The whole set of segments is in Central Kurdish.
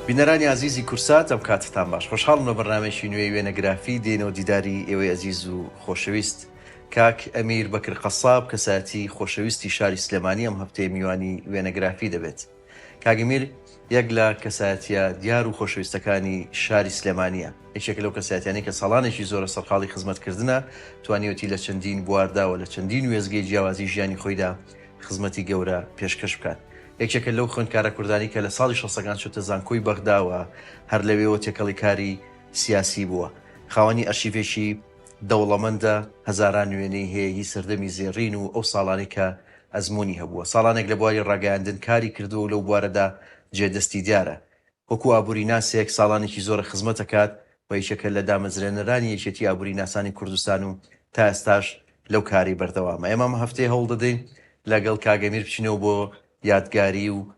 بینەرانی ئازیزی کورسات ئەم کاتتان باش خۆشحاڵم لە بەرنمێکی نوێی وێنەگرافی دێنەوە دیداری ئێوەی ئەزیز و خۆشەویست کاک ئەمیر بەکر قەساب کەسایەتی خۆشەویستی شاری سلێمانی ئەم هەفتەیە میوانی وێنەگرافی دەبێت. کاک ئەمیر یەک لە کەسایەتییە دیار و خۆشەویستەکانی شاری سلێمانییە، یەکێکە لەو کەسایەتیانەی کە ساڵانێکی زۆرە سەرقاڵی خزمەتکردنە، توانیوەتی لە چەندین بواردا و لە چەندین وێستگەی جیاوازی ژیانی خۆیدا خزمەتی گەورە پێشکەش بکات. یەکێکە لەو خوێندکارە کوردانەی کە لە ساڵی شەستەکان چۆتە زانکۆی بەغدا و هەر لەوێوە تێکەڵی کاری سیاسی بووە. خاوەنی ئەرشیڤێکی دەوڵەمەندە، هەزاران وێنەی هەیە هی سەردەمی زێڕین و ئەو ساڵانەی کە ئەزموونی هەبووە، ساڵانێک لە بواری ڕاگەیاندن کاری کردووە و لەو بوارەدا جێ دەستی دیارە. وەکوو ئابووریناسێک ساڵانێکی زۆرە خزمەت دەکات و یەکێکە لە دامەزرێنەرانی یەکێتی ئابووریناسانی کوردستان و تا ئێستاش لەو کارەی بەردەوامە. ئێمە ئەم هەفتەیە هەوڵ دەدەین لەگەڵ کاک ئەمیر بچینەوە بۆ یادگاری و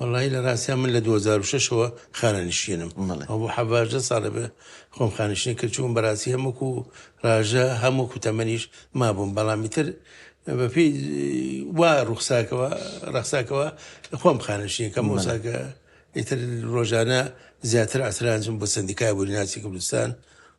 وەڵایی لە ڕاستیا من لە دوو هەزار و شەش ەوە خانەنشینم بەڵێ. ئەوە بۆ حەڤاژدە ساڵە بێ خۆم خانەنشینی کرد چوون بەڕاستی هەم وەکو ڕاژە هەم وەکو تەمەنیش مابووم بەڵام ئیتر بە پێی وا ڕوخساکەوە ڕەخساکەوە خۆم خانەنشینی کەم بەڵێ. ئەوسا کە ئیتر ڕۆژانە زیاتر ئاسرانجم بۆ سەندیکای ئابووری ناسی کوردستان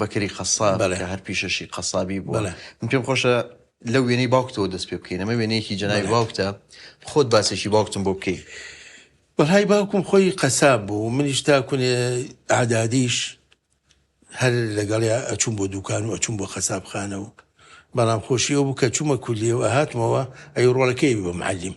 بەکری قەساب بەڵێ کە هەر پیشەشی قەسابی بووە بەڵێ من پێم خۆشە لەو وێنەی باوکتەوە دەست پێ بکەین ئەمە وێنەیەکی جەنابی بەڵێ. باوکتە خۆت باسێکی باوکتم بۆ بکەی وەهای باوکم خۆی قەساب بوو منیش تا کونێ ئەعدادیش هەر لەگەڵیا ئەچووم بۆ دووکان و ئەچووم بۆ قەسابخانە و بەڵام خۆشی ئەو بوو کە چوومە کولیە و ئەهاتمەوە ئەی ڕۆڵەکەی بوو بە معەلیم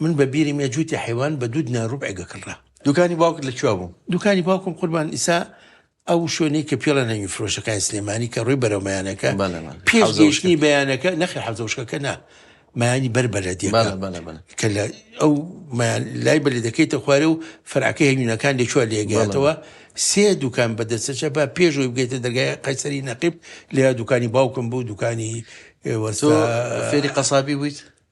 من بە بیرم یە جووتی حەیوان بە دوو دینار ڕوبعێ گەکڕرا. دوکانی باوکت لە کوێ بوو؟ دوکانی باوکم قوربان ئیسا ئەو شوێنەی کە پێڵە نەوی فرۆشەکانی سلێمانی کە ڕووی بەرەو مەیانەکە بەڵێ بەڵێ پێش حەوزە گەیشتنی وشکە بەیانەکە نەخێر حەوزە وشکەکە نا مەیانی بەر بەلەدیەکە بەڵێ بەڵێ بەڵێ کە لە ئەو مەیان لای بەلەدەکەیتە خوارێ و فەرعەکەی هەوینەکان لە کوێ بەڵێ لێگاتەوە بەڵێ سێ دوکان بە دەستە چەپە پێشەوەی بگەیتە دەرگای قەیسەری نەقیب لێرە دوکانی باوکم بوو دوکانی اه، تۆ وەستا فێری قەسابی بوویت؟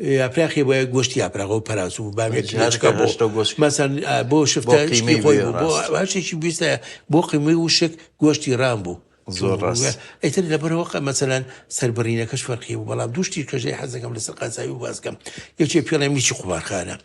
یاپراخی بۆ گۆشتی یاپراخ و پەراس و بامیە جنێچکە بۆ مەسەن بۆ شفتە شتی خۆی بوو بۆ باشێکی بیستە بۆ قیمەی وشک گۆشتی ڕام بوو زۆر ڕاست ئەیتر لەبەرەوە مەسەلەن سەربڕینەکەش فەرقی بوو بەڵام دوشتی کەژەی حەزەکەم لەسەر قازایی و باسکەم یەکێ پێڵێ میچی قومارخانە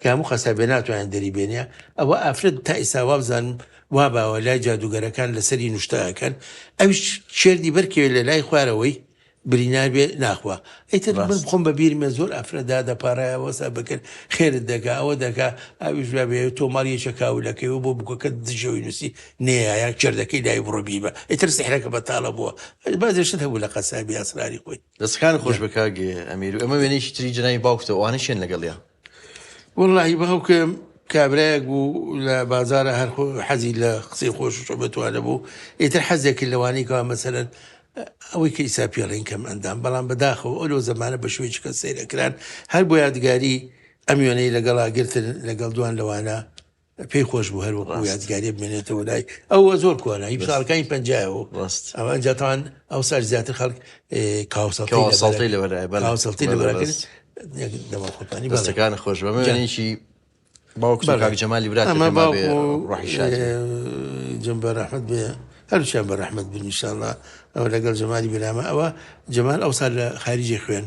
کە هەموو قەسابێ ناتوانێ دەری بێنێ ئەوە ئافرەت تا ئیستا وابزانم واباوە لای جادووگەرەکان لەسەری نوشتە ئەکەن ئەویش کێردی بەرکەوێ لە لای خوارەوەی برینار بێ ناخوا ئەیتر من خۆم بە بیرمێ زۆر ئافرەدا دەپارایە وەسا بکرد خێرت دەگا ئەوە دەگا ئەویش بێ تۆ ماڵ یەکە کاولەکەی و بۆ بگۆکە دژەوەی نووسی نەیە کێردەکەی لای بڕۆ بیبە ئیتر سحرەکە بەتاڵە بووە بازێشت هەبوو لە قەسابی ئاسراری خۆی دەستەکان خۆش بە کاک ئەمیر و ئەمە وێنەیەکی تری جنابی باوکتە ئەوانە شێن لەگەڵیا وەڵاهی باوکم کابرایەک بوو لە بازارە هەر حەزی لە قسەی خۆش شۆبەتوانە بوو ئیتر حەزێکی لەوانی کەوا مەسەرەن ئەوەی کە ئیسا پێڵین کەم ئەندام بەڵام بەداخەوە ئەو لەو زمانە بە شوێکی کە سەیرەکران هەر بۆ یادگاری ئەم وێنەی لەگەڵا گرتن لەگەڵ دوان لەوانە پێی خۆش بوو هەر وەکو یادگاری بمێنێتەوە لای ئەوە زۆر کۆنە هی ساڵەکانی پنجایەوە ڕاست ئەوە ئەنجاتوان ئەو سەر زیاتر خەڵک کاوسەڵی لەوەسەڵتی لەبەرەکرد دەمەخۆتانی بەستەکان خۆش بەمەێنێکی باوک جەمالی برا جم بە ڕەحمت بێ هەرچیان بە ڕەحمت بنیشانە ئەوە لەگەڵ جەمالی برامە ئەوە جەمال ئەو سال لە خارجی خوێن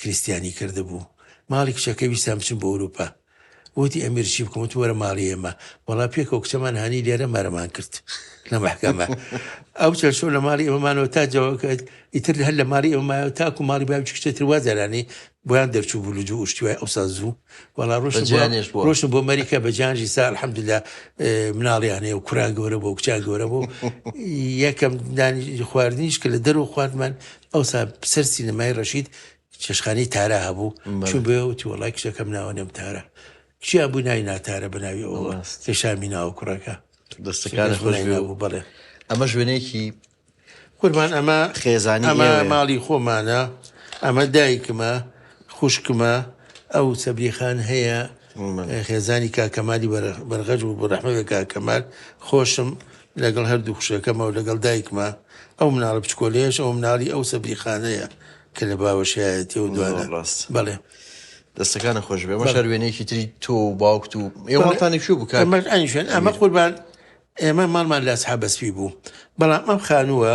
کریستیانی کردبوو ماڵی کچەکەی ویستان بچم بۆ ئەوروپا وتی ئەمیر چی بکەم وتم وەرە ماڵی ئێمە وەڵا پێکەوە کچەمان هانی لێرە مەرەمان کرد لە مەحکەمە ئەو چەند شەو لە ماڵی ئێمەمانەوە تا جەوەکەت ئیتر هەر لە ماڵی ئێمەمایەوە تاکو ماڵی باوی کچێتر وازەرانی بۆیان دەرچوو بوو لجو ئوشتیوای ئەو ساز زوو وەڵا ڕۆشت جانێش بۆ ڕۆشن بۆ مەریکا بە جانژی سا الحمدللا مناڵیانەیە و کوران گەورە بۆ کچان گەورە بۆ یەکەم دانی خواردنیش کە لە دەرو خواردمان ئەوسا سەر سینەمای ڕەشید چێشخانەی تارا هەبوو چوو بێ وتی وڵای کچەکەم ناوە نێم تارە چیا بوو ناوی ناتارە بە ناوی ئەوە کێشامی ناوە کوڕەکە دەستەکان خۆش بوو بڵێ ئەمە ژوێنێکی قوربان ئەمە خێزانی ئەمە ماڵی خۆمانە ئەمە دایکمە خوشکمە ئەو سەبریخان هەیە خێزانی کاک کەمالی بەرغەج بوو بۆ رەحمە بێ کاک کەمال خۆشم لەگەڵ هەردوو خوشەکەمەوە لەگەڵ دایکمە ئەو مناڵە بچکۆلەیەش ئەو مناڵی ئەو سەبری خانەیە کە لە باوەشایەتی و دوانە ڕاست بەڵێ دەستەکانە خۆش بێ مە شار وێنێکی تری تۆ و باوکت و ئێوەڵتانی کوێ بکە ئەمەش ئەمە قوربان ئێمە ماڵمان لە سحابەسپی بوو بەڵام ئەم خانووە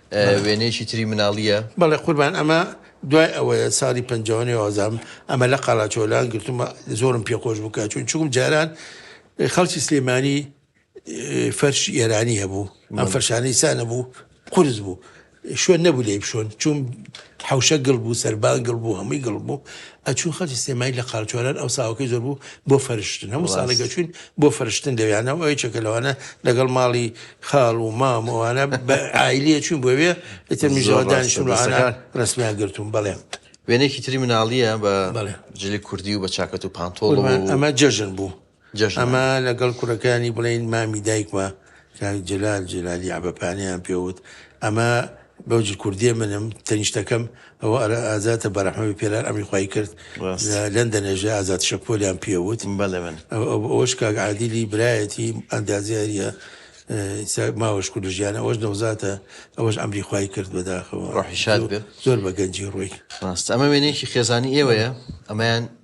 وێنەیەکی تری مناڵیە. بەڵێ قوربان ئەمە دوای ئەوەیە ساڵی پەنجا و نۆ ئەزام ئەمە لە قەڵاچۆ لان گرتومە زۆرم پێ خۆش بوو کە چوون چووم جاران خەڵکی سلێمانی فەرشی ئێرانی هەبوو ئەم فەرشانەی سا نەبوو قورس بوو شوێن نەبوو لێی بشۆن چوون حەوشە گڵ بوو، سەربان گڵ بوو، هەمووی گڵ بوو. ئەچوون خەڵکی سلێمانی لە قارچۆلان ئەو ساوەکەی زۆر بوو بۆ فەرشتن. هەموو ساڵێک ڕاست. ئەچووین بۆ فەرشتن لەوێیانە و یەکێکە لەوانە لەگەڵ ماڵی خاڵ و مام و ئەوانە بە عایلی ئەچووین بۆ وێ، ئیتر زۆر منیش لەوە ڕاستە، دانیشتم و ئەوانە دەستەکان. ڕەسمیان گرتووم. بەڵێ. وێنەیەکی تری مناڵییە بە بەڵێ. جلی کوردی و بە چاکەت و پانتۆڵ قوربان و ئەمە جەژن بوو. ئەما لەگەڵ کوڕەکانی بڵێین مامی دایکمە کاک جەلال جەلالی عەبەپانەیان پێوت ئەما بەوجی کوردێ منم تەنیشتەکەم ئەوە ئەرە ئازاتە بەرەحمەوی پێرار ئەمی خی کرد لەندەنێژە ئازات شەپۆلیان پێوت بەڵێ من ئەوش کاک عادیلی برایەتی ئەندازیاریە ماوەش کورد ژیانە ئەوش نەوزاتە ئەوەش ئەمری خی کرد بەداخەوە ڕحیشاد بێت زۆر بە گەنجی ڕووی ڕاست ئەمە وێنێکی خێزانی ئێوەیە ئەمەیان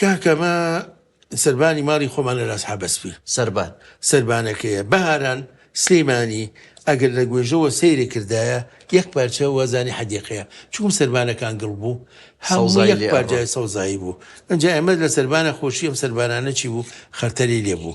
کاکە ئەمە سەربانی ماڵی خۆمان لە لاس حەبەسپی سەربان سەربانەکەیە بەهاران سلەیمانی ئەگەر لە گوێژەوە سەیرێ کردایە یەک پارچە وەزانی حەدیقەیە چوم سەربانەکان گڵ بوو هەوزای پارجای سەوزایی بوو ئەجا ئەمە لە سەربانە خۆشی ئەم سەربانانە چی بوو خەرتەلی لێ بوو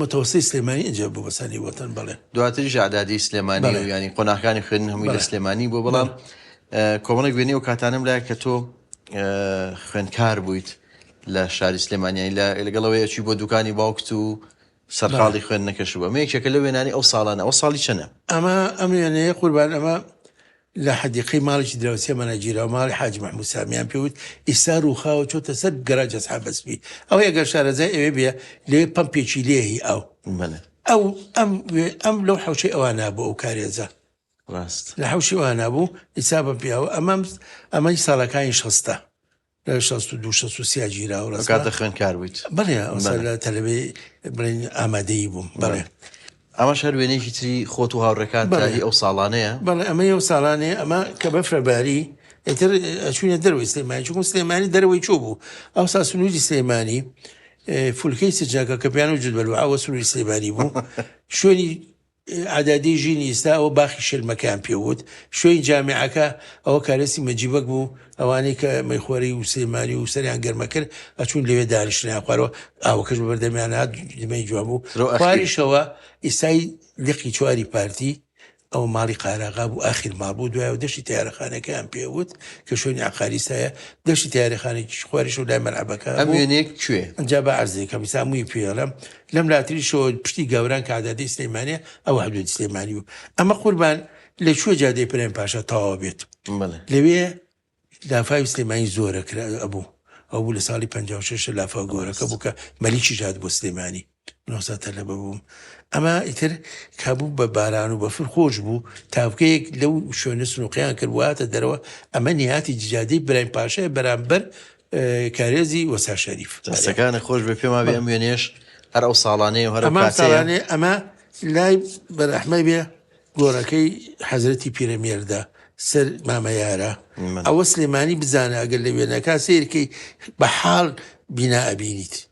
متەوەستەی سلێمانی ئینجا بۆ بەسانی وەتەن بەڵێ. دواتریش ئەعدادی سلێمانی و یانی قۆناغەکانی خوێندن هەمووی لە سلێمانی بووە بەڵام کۆمەڵێک وێنەی ئەو کاتانەم لایە کە تۆ خوێندکار بوویت لە شاری سلێمانیایی لە لەگەڵەوەی ئەچی بۆ دوکانی باوکت و سەرقاڵی خوێندنەکەش بووە مێکێکە لە وێنانی ئەو ساڵانە ئەو ساڵی چەنە ئەمە ئەم وێنەیە قوربان ئەمە لە حەدیقەی ماڵێکی دراوسێمانا گیراو ماڵی حاجی مەحموود سامیان پێ وت، ئیستا رووخاوە چۆتە سەر گەراج ئەسحابە سپی، ئەوەی ئەگەر شارەزای ئەوێ بێ لەوێ پەمپێکی لێ هی ئاو. بەلێ. ئەو ئەم وێ ئەم لەو حەوشەی ئەوانا بوو ئەو کارێزە. راست. لە حەوشی ئەوانا بوو ئیستا بە پیاوە ئەمەم ئەمەی ساڵەکانی شەستە. شەست و دوو شەست و سیا گیراوە لە کات لە خوێندکار بوویت بەڵێ ئەوسا لە تەلەبێ بڵێن ئامادەیی بووم بەڵێ ئەمە شەر وێنێکی تری خۆت و هاوڕێکات بەڵی ئەو ساڵانەیە بەڵێ ئەمە ئەو ساڵانێ ئەمە کە بەفرەباری ئەتر ئەچوونە دەروی سلێمانی چون سلێمانی دەروی چۆ بوو ئەو سا سنووری سلێمانی فولکەی سجاکە کە پیان و جدبەر ئەوە سنووری سلێمانی بوو شوێنی عەدادی ژین ئیستا ئەوە باخی شێلمەکەیان پێ وت شوێی جامعەکە ئەوە کارێسی مەجیبەک بوو ئەوانەی کە مەیخۆری و سلێمانی و سەریان گەرمە کرد ئەچوون لەوێ دانیشتنیان خوارەوە ئاوەکەش بە بەردەمیان هات دمەی جوان بوو سرۆ ئەخی. خواریشەوە ئیسای لقی چواری پارتی ئەوە ماڵی قاراغا بوو ئاخیر ماڵ بوو دوای و دەشتی تیارەخانەکەیان پێ وت کە شوێنی عقاری سایە دەشتی تیارەخانێکی خواریش و لای مەلعەبەکە ئەم بوو. وێنەیە کوێ؟ ئەجا با عەرزێکەم ئیستا هەمووی پێڵەم لەم لاتریشەوە پشتی گاوران کە عەدادەی سلەیمانیە ئەوە حدوودی سلەیمانی بوو ئەمە قوربان لە کوێ جادەی پرێم پاشا تەواو بێت لەوێ لافاوی سلێمانی زۆرە کرا ئەبوو ئەو بوو لە ساڵی 56 لافاو گۆرەکە بوو کە مەلیکی ژات بۆ سلێمانی نۆسەتە لە بەبووم ئەمە ئیتر کابوو بە باران و بەفر خۆش بوو تاوکەیەک لەو شوێنە سنووقیان کرد واتە دەرەوە ئەمە نیاتی جادەی برایم پاشای بەرامبەر کارێزی وەسا شەریف دەستەکانە خۆش بێ پێما بێ ئەم وێنێش هەر ئەو ساڵانەیە هەر ئەمە ساڵانێ ئەمە لای بەرەحمە بێ گۆرەکەی حەزرەتی پیرەمێردە سەر مامەیارە ئەوە سلێمانی بزانە ئەگەر لە وێنەکە سیرکەی بە حاڵ بینا ئەبینیت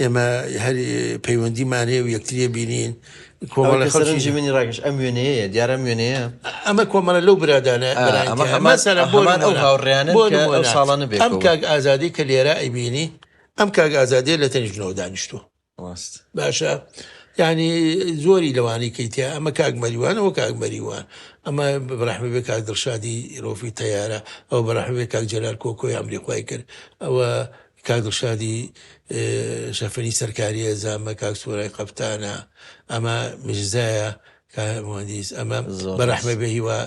ئێمە هەر پەیوەندیمان هەیە و یەکتریێ بینین کۆمەڵی خەڵکی منی ڕاگەش ئەم وێنەیە دیارە وێنەیە ئەمە کۆمەڵە لەو برادانە ساڵانە بێت ئەم کاک ئازادی کە لێرە ئەیبینی ئەم کاک ئازادی لە تەنیشتنەوە دانیشتووە باشە ینی زۆری لەوانی کەیتە ئەمە کاک مەریوانەوە کاک مەریوان ئەمە بەڕحمە بێ کاک دڵشادی ڕۆفی تیارە ئەو بەڕحمێ کاک جەلار کۆکۆی ئەمریخوای کرد ئەوە کاک دڵشادی شەفەنی سەرکاریە زامە کاک سۆرای قەفتانە ئەمە مژزایە کە مهندیس ئەمە زۆر بە ڕەحمە بێ هیوا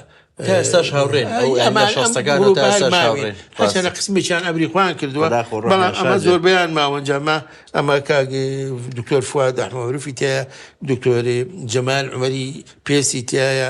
تا ئێستاش هاوڕێن ئەو ئەی ئەمان ئەم شەستەکان و تا گروپە ئێستاش هەرماوین هاوڕێن هەچەنە ڕاستە. قسمێکیان ئەمری خۆیان کردووە خدا خۆ ڕەحمی بەڵام ئەمە شادێ. زۆربەیان ماوەنجامە ئەمە کاک دکتۆر فواد ئەحمەمەروفی تایە دکتۆر جەمال عومەری پێسی تایە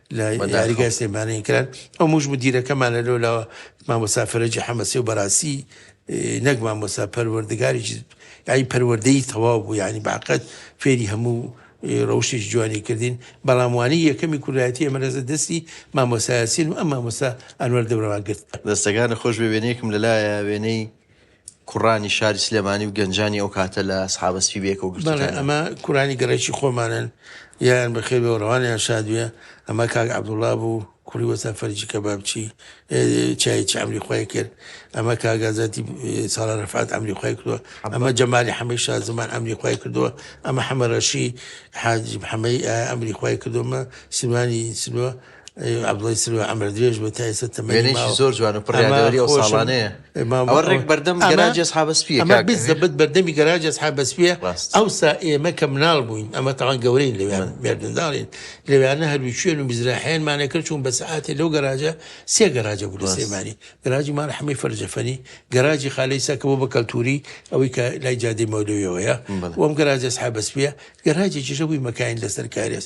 لە یاریگای سلێمانیان کران ئەو موش مدیرەکەمان لە لۆلاوە مامۆسا فەرەجی حەمەسی و بەراسی نەک مامۆسا پەروەردگاری یاری پەروەردەی تەواو بوو ینی باقەت فێری هەموو ڕەوشێک جوانی کردین بەڵاموانی یەکەمی کوردایەتی ئەمەرەزە دەستی مامۆسایسین و ئەم مامۆسا ئەنوەر دەورەوان گرت دەستەکان خۆش بێ وێنەیەکم لەلایە وێنەی کوڕانی شاری سلێمانی و گەنجانی ئەو کاتە لە سحابە سپی بەیەکەوە گرتوتانە؟ ئەمە کورانی گەڕێکی خۆمانن یان بەخێ بە ڕەوانیان شادوێ ئەمە کاک عبدوڵا بوو کوڕی وەسا فەرجی کە بابچی چایچ ئەمری خۆی کرد ئەمە کاگازاتی ساڵە ڕفات ئەمری خۆی کردووە ئەمە جەمالی حەمەی شا زمان ئەمری خۆی کردووە ئەمە حەمە ڕەشی حاجی حەمەی ئەمری خۆی کردومە سیمانی سلوە عەبدوڵای سروە عەمر درێژ بێ تا ئێستا تەمەنی وێنەیەکی ماوە زۆر جوان و پڕ ئەما یادەوەری ئەو خۆشم ساڵانەیە ئەما ئەوە بۆ- ڕێک بەردەم ئەما- گەراجی ئەسحابە سپییە ئەمە کاک ئەمیر. بالضبط بەردەمی گەراجی ئەسحاب بەسپیە ڕاست. ئەوسا ئێمە کە مناڵ بووین ئەمە تاوان گەورەین لەوێن مێردمداڵین لەوێنە هەروی شوێن و میزراحیانمانە کرد چوون بە سەعاتێ لەو گەراجە سێ گەراجە بوو لە ڕاست. سلێمانی گەراجی ماڵ حەمەی فەرجەفەنی گەراجی خالەی سا کە بۆ بە کەلتوری ئەوەی کە لای جادەی مەولەویەوەیە بەڵێ. وەم گەراجی ئەسحاب بەسپیە گەراجێکیشە بووی مەکاین لەسەر کارێز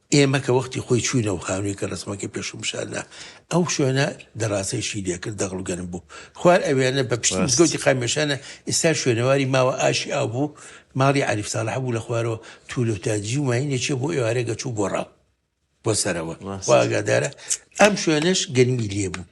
ئێمە کە وەختی خۆی چووین ئەو خانووی کە ڕەسمەکەی پێشم پیشاندا، ئەو شوێنە دەڕاستەیشی لێ کرد، دەغڵ و گەرم بوو. خوار ئەوێنە بە پشتی ڕاست مزگەوتی قامیشانە، ئیستا شوێنەواری ماوە ئاشی ئاو بوو، ماڵی عەریف ساڵح بوو، لە خوارەوە توولە و تاجی و ماینێ چێ بۆ ئێوارێ گەچ و گۆڕاو بۆ سەرەوە، خوا ڕاست ئاگادارە ئەم شوێنەش گەرمی لێ بوو.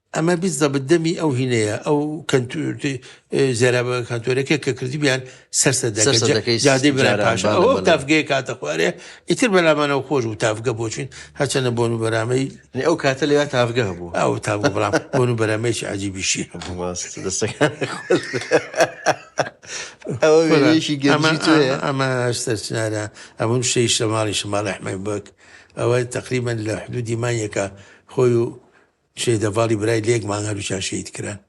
ئەمە بیزەبت دەمی ئەو هینەیە ئەو کەنتور زێرابە کانتۆرەکە کە کردبیان سەرسە دەکە سەرسە جا- دەکەی جادەی برای جاران پاشا بەڵێ، ئەوە بەڵێ. تافگەیە کاتە خوارێ ئیتر بەلامانەوە خۆش بوو تافگە بۆچوین هەچەنە بۆن و بەرامەی یعنی ئەو کاتە لەوێ تاڤگە هەبوو ئەو تاگە بڵام بۆن و بەرامەیەکی عجیبیشی هەبوو ماست دەستەکان خۆش بێ. ئەوە وێنەیەکی گەنجی تۆیە ئەمە سەرچنارە ئەمن شەی شەماڵی شەماڵ ئەحمەد بەک ئەوە تقریبا لە حدودی مانیەکە خۆی و شەهید هەڤاڵی برای لەیەک مانگ هەردووکیان شەهید کران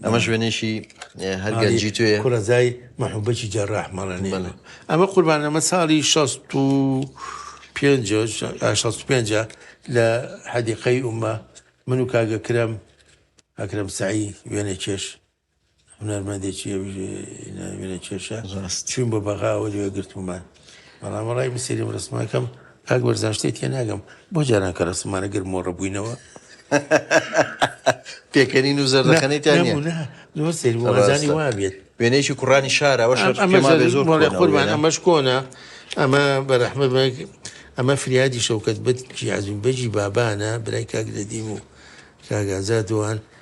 ئەمە شوێنێکی هەرگەنجی توێ کوڕەزای مەحوبەکی جەڕاح مەڵێنی ئەمە قوربانەمە ساڵی 65 لە حەدیقەی ئومە من و کاگەکرم ئەکرم سعی وێنە کێش هونەرمەندێکی وێنە کێشە چوین بۆ بەغاوە لێ گرتممان بەڵام ڕای بسێری و ڕسمەکەم کاک بەرزان شتێ تێ ناگەم بۆ جاران کە ڕسممانە گر مۆڕە بووینەوە پێکەنین و زەردەخەنێتیان زۆر سێری وازانی وا بێت وێنەیەکی کوڕانی شارەوە قوربان ئەمەش کۆنا ئەمە بەرەحمە بەگ ئەمە فریادی شەوکەت بەت جیازین بەجی بابانە برای کاک لەدیم و کاگازا دوان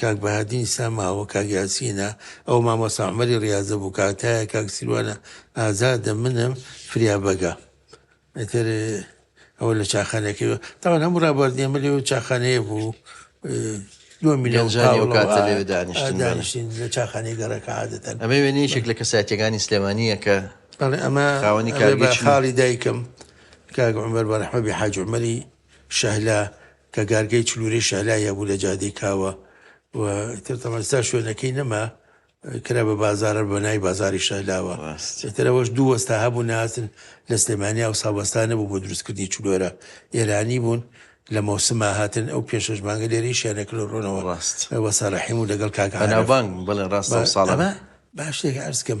کاک بەهادین سا ماوە کاک یاسینە ئەوە مامۆستا عومەری ڕاضە بوو کاک تایە کاک سیروانە ئازادە منم فریا بەگە ئەتر ئەوە لە چاخانەکەی تاوان هەموو ڕابواردنە مە لێ و چاخانەیە بوو دانیشتین لە چاخانی گەڕەکە عادەتەن ئەمە وێنەیەشێک لە کەساتەکانی سلێمانیە کە ئەمە خاوەنی کاری خاڵی دایکم کاگە عمر بەرحمەبی حاجمەری شەهلا کە گارگەی چلورەی شەهلایە بوو لە جادەی کاوە و ئیتر تەمان ئیستا شوێنەکەی نەما کرا بە بازارە بە نای بازاری شەهلاوە ڕاست ئیتر ئەوەش دوو وەستا هەبوو ناسن لە سلێمانیا و ساوەستانە بوو بۆ دروستکردنی چلۆرە ئێرانی بوون لە مەوسما هاتن ئەو پێ شەش مانگە لێرەی شیانە کلۆ ڕۆنەوە ڕاست وەسەرەحیم و لەگەڵ کاکە بەناوبانگ بڵێ ڕاستە ساڵە باشێک ئەرزکەم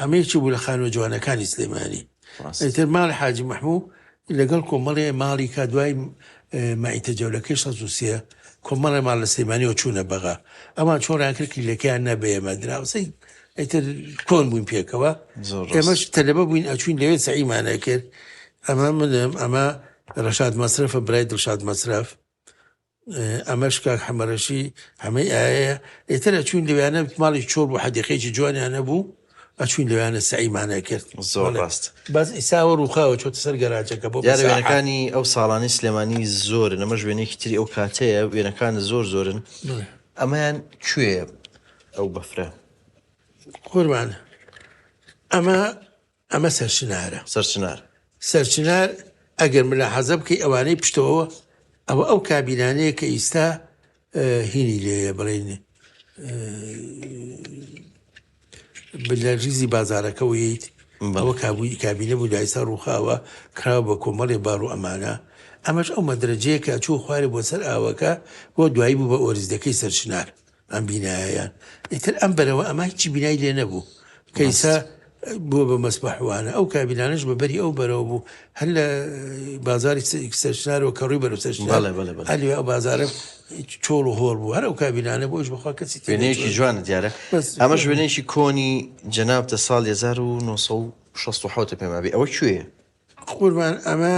ئەمە یەکی بوو لە خانووە جوانەکانی سلێمانی ئەیتر ماڵی حاجی مەحموو لەگەڵ کۆمەڵێ ماڵی کا دوای مایتە جەولەکەی 16 کۆمەڵێ ماڵ لە سلێمانیەوە چوونە بەغا ئەمان چۆڕیان کرد کلیلەکەیان نەبێمە دراوسی ئەیتر کۆن بووین پێکەوە ئێمەش تەلەبە بووین ئەچوین لەوێ سەعیمانە کرد ئەمە منم ئەمە ڕەشاد مەسرفە برای دڵشاد مەسرف ئەمەش کاک حەمەرەشی حەمەی ئایەیە ئێتر ئەچوین لەویانە ماڵی چۆڵ بوو حەدیقەیەکی جوانیان نەبوو ئەچوین لەویانە سعیمانە کرد زۆر ڕاست بەس ئیساوە ڕووخاوە چۆتە سەر گەراجەکە بۆ وێنەکانی ئەو ساڵانی سلێمانی زۆر نەمە ژوێنێکی تری ئەو کاتەیە وێنەکان زۆر زۆرن ئەمەیان کوێ ئەو بەفرە قوربان ئەمە ئەمە سەرچنارە. سەرچنار. سەرچنار، ئەگەر ملاحەزە بکەی ئەوانەی پشتەوە ئەوە ئەو کابینانەیە کە ئیستا هینی لێە بڵین لە ریزی بازارەکە ویت ئەوە کابووی کابینە بوو دایسا ڕووخاوە کراوە بە کۆمەڵی بار و ئەمانە ئەمەش ئەو مەدرەجەیە کە چوو خوارێ بۆ سەر ئاوەکە بۆ دوایی بوو بە ئۆریزدەکەی سەرچنار ئەم بینایەیان ئیتر ئەم بەرەوە ئەمە هیچی بینای لێ نەبوو کەیسە بەست بووە بە مەسبەحوانە ئەو کابینانش بە بەری ئەو بەرەوە بوو هەر لە بازاری سەرشنارەوە کە ڕووی بەرەو سەرشنار بەڵێ بەڵێ بەڵێ هەلوێ ئەو بازارە چۆڵ و هۆڵ بوو هەر ئەو کابینانە بۆش بخوا کەسی تێ وێنەیەکی نەچوە جوانە دیارە بەس ئەمە ژوێنێکی کۆنی جەنابتە ساڵ 1960 پێمابێ ئەوە کوێیە قوربان ئەمە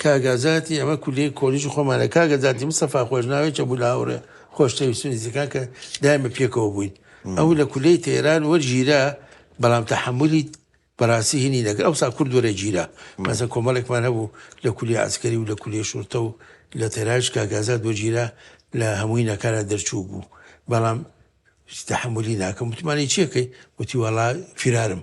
کاک ئازاتی ئەمە کولیەی کۆلیژی خۆمانە کاک ئازاتی مستەفا خۆشناوێکە بوو لە هاوڕێ خۆشتەویستون دیزەکان کە دایمە پێکەوە بووین ئەو لە کولیەی تەیران وەرگیرا بەڵام تەحملی بەڕاستی هینی نەکرد ئەو سا کورد وەرە گیرا مەسە کۆمەڵێکمان هەبوو لە کولی ئاسکەری و لە کولی شورتە و لە تەراش کاگازات وەگیرا لە هەمووی نەکارە دەرچوو بوو بەڵام تەحملی ناکەم متمانەی چیەکەی وتی وەڵا فرارم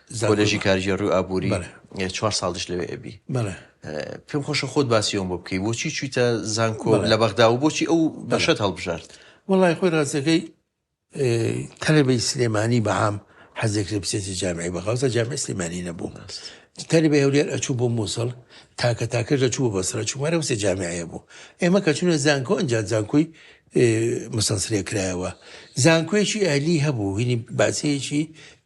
کۆلێژی کارگێڕی و ئابووری چوار ساڵیش لەوێ ئەبی پێم خۆشە خۆت باسی ئەوم بۆ بکەی بۆچی چویتە زانکۆ لە بەغدا و بۆچی ئەو بەشەت هەڵبژارد وڵی خۆی ڕاستەکەی تەلبی سلێمانی بەعام حەزێک لە بچێتی جامعی بەخوازە جامع سلێمانی نەبوو تەلبی هەولێر ئەچوو بۆ مووسڵ تاکە تاکە دەچوو بەسرە چوارە وسێ جامعەیە بوو ئێمە کە چونە زانکۆ ئەجا زانکۆی مسەسرێ کرایەوە زانکۆیەکی ئەلی هەبوو هینی باسەیەکی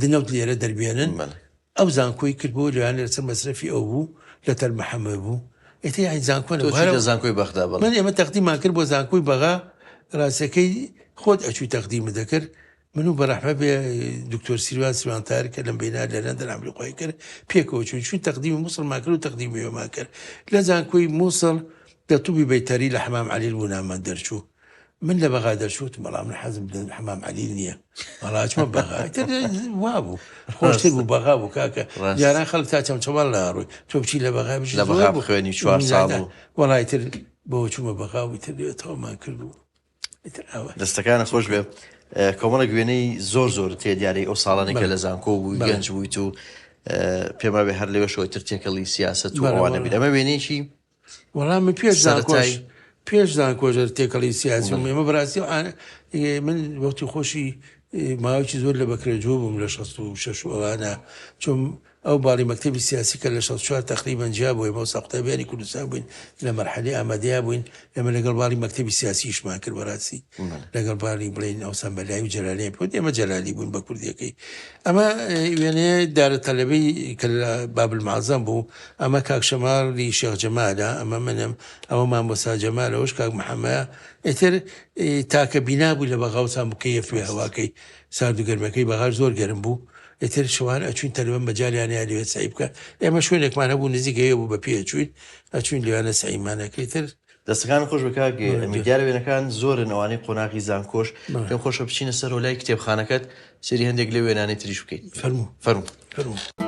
دنەوت لێرە دەربێنن ئەو زانکۆی کرد بۆ لەوانە لەسەر مەسرفی ئەو بوو لە تەل محەممە بوو ئێتی یاین زانکۆ لە زانکۆی بەخدا بە من ئێمە تەقدیمان کرد بۆ زانکۆی بەغا ڕاستەکەی خۆت ئەچوو تەقدیمە دەکرد من و بەڕەحمە بێ دکتۆر سیروان سیوانتار کە لەم بینا لە لەندەن ئەمریقای کرد پێکەوە چون چون تەقدیمی مووسڵمان کرد و تەقدیمیێمان کرد لە زانکۆی مووسڵ دە توبی بەیتەری لە حمام علیل بوونامان دەرچوو من لە بەغا دەرچووتم بەڵام من حەزم لە حەمام عەلیل نییە بەڵاچمە بەغا وابوو خۆشتر بوو بەغا بوو کاکە یاران خەڵک تا چەمچەوان لە ڕووی تۆ بچی لە بەغا بچ لە بەغا بخوێنی چوار ساڵ وەڵای تر بۆ چوومە بەغا و تر تەوامان کرد بوو دەستەکانە خۆش بێ کۆمەڵە گوێنەی زۆر زۆر تێ دیارەی ئەو ساڵانێکە لە زانکۆ بوو گەنج بوویت و پێما بێ هەر لەوێ شۆتر تێکەڵی سیاست و ئەوانە بیر ئەمە وێنێکی وەڵا من پێش زانکۆش پێش زانکۆش تێکەڵی سیاسی و مێمە بەڕاستی و من وەختی خۆشی ماوەکی زۆر لە بەکرێجوو بووم لە 16 ئەوانە چۆم ئەو باڵی مەکتتەبی سیاسی کە لە 16 تقریبان جیا بووی بۆ ساقتابیانی کوردستان بووین لە مەرحەلی ئامادەیا بووین لەمە لەگەڵ باڵی مەکتتەبی سیاسیشمان کرد بەڕاستی لەگەڵ باڵی بڵین ئەو سەمبەلای و جەلالی پۆ ئێمە جەلالی بوون بە کوردیەکەی ئەمە وێنێ دارە تەلەبی کە لە بابل مازەم بوو ئەمە کاک شەماڵ ی شێخ جەمالە ئەمە منم ئەوە مامۆستا جەمال ئەوەش کاک محەمە ئیتر تاکە بینا بوو لە بەغاوسان بکەیە فێ ڕاست هەواکەی سارد و گەرمەکەی بەغاش زۆر گەرم بوو ئیتر شەوان ئەچوین تەلبە مەجالیان یا لەوێ سەعی بکە ئێمە شوێنێکمان هەبوو نزیکەوێ بوو بە پێ ئەچوین ئەچوین لەوێ سەعیمان ئەکرد ئیتر دەستەکانت خۆش بێت کاک ئەمیر، دیارە وێنەکان زۆرن ئەوانەی قۆناغی زانکۆش، پێم خۆشە بچینە سەرەوە لای کتێبخانەکەت سەیری هەندێک لەو وێنانەی تریش بکەین. فەرموو فەرموو.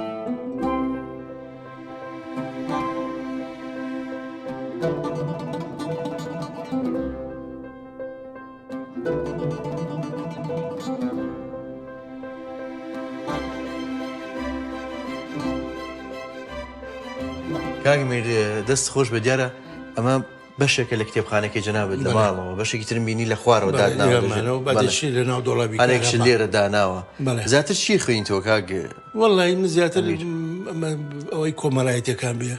کاک ئەمیر دەستت خۆش بێت دیارە، ئەمە بەشێکە لە کتێبخانەکەی جەنابێت لە ماڵەوە بەشێکی ترم بینی لە خوارەوە دادناوەێکشی لێرە داناوە زیاتر چی خوێن تۆ کاگە وڵی من زیاتر ئەوەی کۆمەڵایەتەکان بێ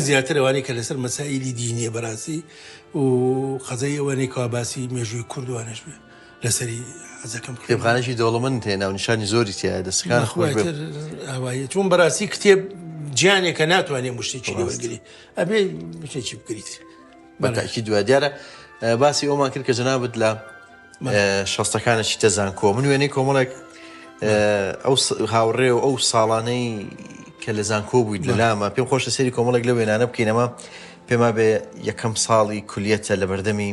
زیاتر ئەوانەی کە لەسەر مەسائلی دینیە بەراسی و قەزای ئەوەنەی کاباسی مێژووی کوردوانش بێ لەسەری حەزەکەم کتێبخانەشی دەوڵەمن تێ ناونیشانی زۆری تایە دەستەکان خۆش ئەوەیە چون بەراسی کتێب جیانێکە ناتوانێت مشتێکی لەوەگری ئەبێ شتێکی بکریت بەتاکی دوای دیارە باسی ئەومان کرد کە جەنابەت لە شەستەکانە چیتە زانکۆ من وێنەی کۆمەڵێک ئەو هاوڕێ و ئەو ساڵانەی کە لە زانکۆ بوویت لە لامە پێم خۆشە سری کۆمەڵێک لە وێنانە بکەینەمە پێما بێ یەکەم ساڵی کولیەتە لە بەردەمی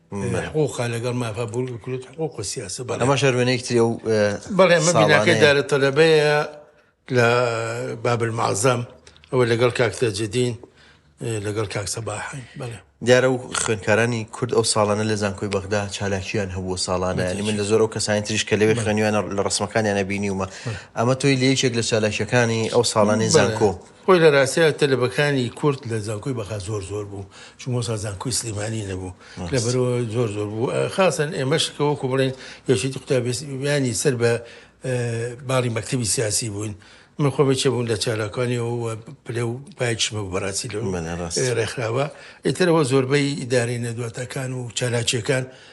حقوقە لەگەڵ مافە بورگە کلوت حقوق و سیاسە بەڵێ ئەمە شەروێنێکی تری و بەڵێ من بیناکەی دارە تەلەبەیە لە بابل معزەم ئەوە لەگەڵ کاکتە جدین لەگەڵ کاک سەباحین بەڵێ دیارە و خوێنکارانی کورد ئەو ساڵانە لە زانکۆی بەغدا چالاکیان هەبوو ساڵانە ینی من لە زۆر ئەو کەسانی تریش کە لەوێ خوێنیوانە لە ڕسمەکانیانە بینیومە ئەمە تۆی لە یەکێک لە چالاکیەکانی ئەو ساڵانی زانکۆ خۆی لە راستیا تەلەبەکانی کورد لە زانکۆی بەغا زۆر زۆر بوو چون مۆسا زانکۆی سلیمانی نەبوو لە بەرەوە زۆر زۆر بوو خاصن ئێمەش کە وەکو بڵێن یەکێتی قوتابیانی سەر بە باڵی مەکتتەبی سیاسی بووین من خۆمە چێ بوون لە چالاکانی و پلێ و پایکشمە بەڕاستی لە ڕێکخراوە ئیترەوە زۆربەی ئیدارەی نەدواتەکان و چالاکیەکان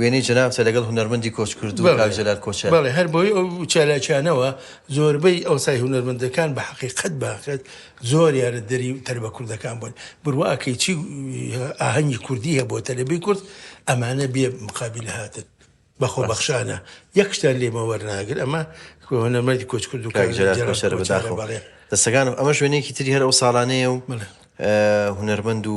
وێنەی جەنابتە لەگەڵ هونەرمەندی کۆچکردوو کاک جەلال کۆچەر. بەڵێ، هەر بۆیە ئەو چالاکیانەوە زۆربەی ئەوسای هونەرمەندەکان بە حەقیقەت باخت زۆریانە دەری تەلبە کوردەکان بوون. بروا ئەکەی چی ئاهەنگی کوردی هەیە بۆ تەلبەی کورد، ئەمانە بێ مقابل هاتن بە خۆبەخشانە یەک شتیان لێمە وەرناگرن. ئەمە هونەرمەندی کۆچکردوو کاک جەلال کۆچەرە بەداخەوە. بەڵێ. دەستەکانم. ئەمەش وێنەیەکی تری هەر ئەو ساڵانەیە و هونەرمەند و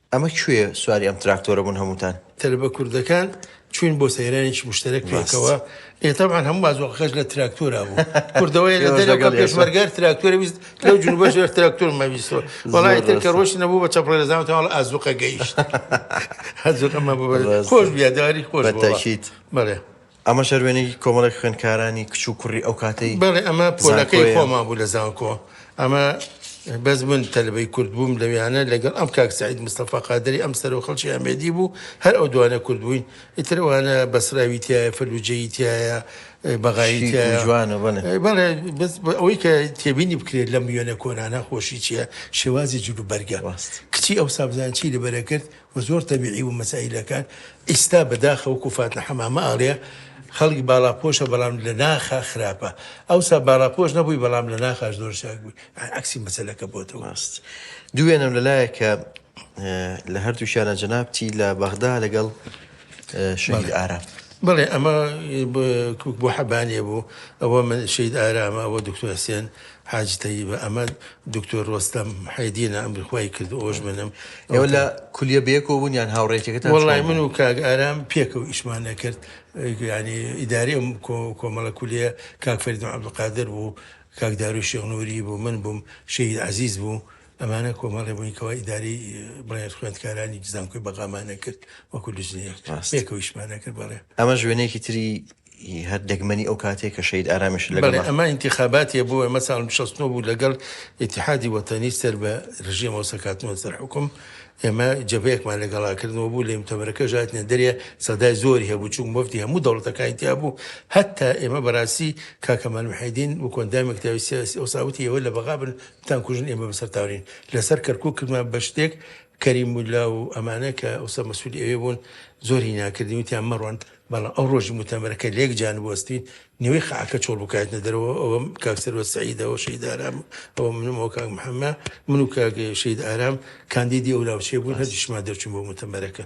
ئەمە کوێ سواری ئەم تراکتۆرە بون هەموتان. تەلەبە کوردەکان چوین بۆ سەیرانێکی مشتەرەک پێکەوە ئێ تەبعەن هەموو بازۆقەکەش لە تراکتۆرا بوو کوردەوەی لە دەرەوە پێشمەرگار تراکتۆرە ویست لەو جنوبەش لە تراکتۆر مەویستەوە وەڵای تر کە ڕۆشت نەبوو بە چەپڵە لە زاوتە هەڵ ئازوقە گەیشت هەزوقەمە بۆ خۆش بیا داری خۆش بەتەکیت بەڵێ ئەمەش هەر وێنەیەکی کۆمەڵێک خوێندکارانی کچ و کوڕی ئەو کاتەی زانکۆیە. بەڵێ ئەمە پۆلەکەی خۆمان بوو لە زانکۆ. ئەمە بەس من تەلەبەی کورد بووم لەوێیانە لەگەڵ ئەم کاک سەعید مستەفا قادری ئەم سەرۆ خەڵکی ئەمێدی بوو هەر ئەو دوانە کورد بووین ئیتر ئەوانە بەسراوی تایە فەلوجەیی تایە بەغایی شیک و تایە جوانە بەڵێ. بەڵێ بەس ئەوەی کە تێبینی بکرێت لەم وێنە کۆنانە خۆشی چییە شێوازی جلوبەرگە. ڕاست. کچی ئەوسا بزانن چی لەبەرە کرد و زۆر تەبیعی بوو مەسایلەکان ئیستا بەداخە وەکو فاتنە حەمامە ئەڵێ خەڵک باڵاپۆشە بەڵام لە ناخا خراپە ئەوسا باڵاپۆش نەبووی بەڵام لە ناخاش زۆر چاک بووی یانی عەکسی مەسەلەکە بۆتەوە. ڕاست دووێنەم لە لایەکە لە هەردووکیانا جەنابتی لە بەغدا لەگەڵ. شەهید ئارام. بەڵێ ئەمە بۆ حەبانێ بوو ئەوە من شید ئارامە ئەوە دکتۆر حسێن حاج تەیبە ئەمە دکتۆر ڕۆستەم حەیدینە ئەم بخوای کرد ئەوش منم ئێوە لە کولیە بێکەوە بوون یان هاوڕێتەکەت وڵای من و کاگ ئارام پێکە و ئیشمان نەکرد ینی ئیداری ئەم کۆمەڵە کولیە کاکفەردن عبدقادر بوو کاکدارو شێغنووری بوو من بووم شید عزیز بوو ئەمانە کۆمەڵێ بووین کەوا ئیدارەی بڵێن خوێندکارانی زانکۆی بەغامانە کرد وەکو لژنەیەک ڕاست. پێکەویشمانە کرد بەڵێ ئەمەش وێنەیەکی تری ی هەر دەگمەنی ئەو کاتەیە کە شەهید ئارامیش بەڵێ لەگەڵا ئەمە ئینتیخاباتیە بوو ئەمە ساڵ شەست و نۆ بوو لەگەڵ ئیتیحادی وەتەنی سەر بە رژێمەوە سەرکاتنەوە سەر حوکم ئێمە جەبەیەکمان لەگەڵا کردنەوە بوو لە یمتەمەرەکە ژاتنە دەرێ سەدای زۆری هەبوو چوون مۆفتی هەموو دەوڵەتەکانی تیا بوو هەتا ئێمە بەراستی کاکەمال محێدین وەکۆ ئەندامی کتابی سیاسی ئەوسا وتی ئێوە لە بەغا بن تان کوژن ئێمە بەسەر تاورین لەسەر کەرکوک کردمان بە شتێک کەریم ملا و ئەمانە کە ئەوسە مەسوولی ئەوێ بوون زۆری ناکردی وتیان مەڕۆن بەڵام ئەو ڕۆژی متەمەرەکە لێک جان بۆستین نوێی خاکە چۆڵ بکات نەدەرەوە ئەوە کاک سەروە سعیدەوە شەید ئارام ئەوە منمەوە کاک محەممە من و کاک شەید ئارام کاندیدی ئەو ناوچێ بوون هەردیشمان دەرچوون بۆ متەمەرەکە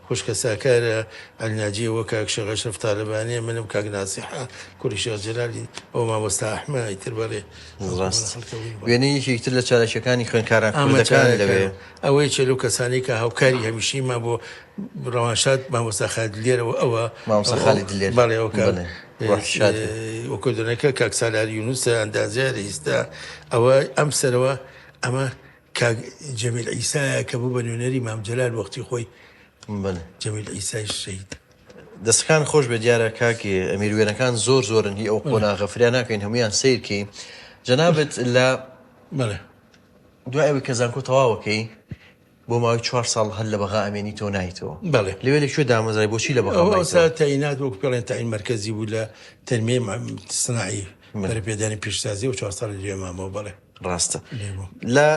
خوشکە ساکارە عەلناجیە وە کاک شێخ ئەشرەف تالەبانیە منم کاک ناسیحە کوری شێخ جەلالی ئەوە مامۆستا ئەحمە ئیتر بەرێ ڕاست وێنەی یەکێکی تر لە چالاکیەکانی خوێنکاران کوردەکان لەوێ ئەوەی چێ لەو کەسانی کە هاوکاری هەمیشی ما بۆ ڕەوانشاد مامۆستا خالد لێرەوە ئەوە مامۆستا خالد لێر بەڵێ ئەو کە وەکۆدنەکە کاک سالار یونوسە ئەندازیارە ئیستا ئەوە ئەم سەرەوە ئەمە کاک جەمیل عیسایە کە بوو بە نوێنەری مام جەلال وەختی خۆی بەلێ جەمیل عیسایش شەهید دەستەکان خۆش بێ دیارە کاک ئەمیر وێنەکان زۆر زۆرن هی ئەو قۆناغە فریا ناکەین هەمویان سیرکەی جەنابەت لە بەلێ دوای ئەوی کە زانکۆ تەواوەکەی بۆ ماوەی چوار ساڵ هەر لە بەغا ئەمێنیتەوە نایتەوە بەلێ لەوێ لە کوێ دامەزرای بۆچی لە بەغا ئەو مایتەوە؟ سا تەینات وەک پێڵێن تاین مەرکەزی بوو لە تەنمێ سناعی بەرەپێدانی پیشسازی و چوار ساڵی لێ مامەوە بەڵێ ڕاستە لە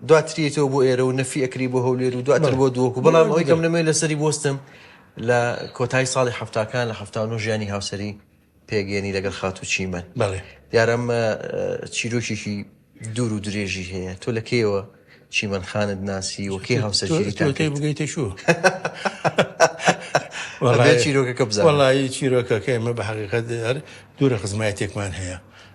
دواتریەوە بۆ ئێرە و نەفی ئەکری بۆ هەولێر و دواتر بۆ دووەکو بەڵام ئەوی گەم نەمێ لەسەری بستم لە کۆتایی ساڵی هەفتاکان لە هەفتانۆ ژیانی هاوسری پێگەێنی لەگەڵ خاتو چیمە دیارم چیرۆکێکی دوور و درێژی هەیە تۆ لە کێەوە چیمەن خانت ناسی وەکەی هاوسەرەکەی بگەیتە شو چیرۆکەکە بزانڵی چیرۆکەکە ئمە بە حقیقەت دوورە خزمایەتێکمان هەیە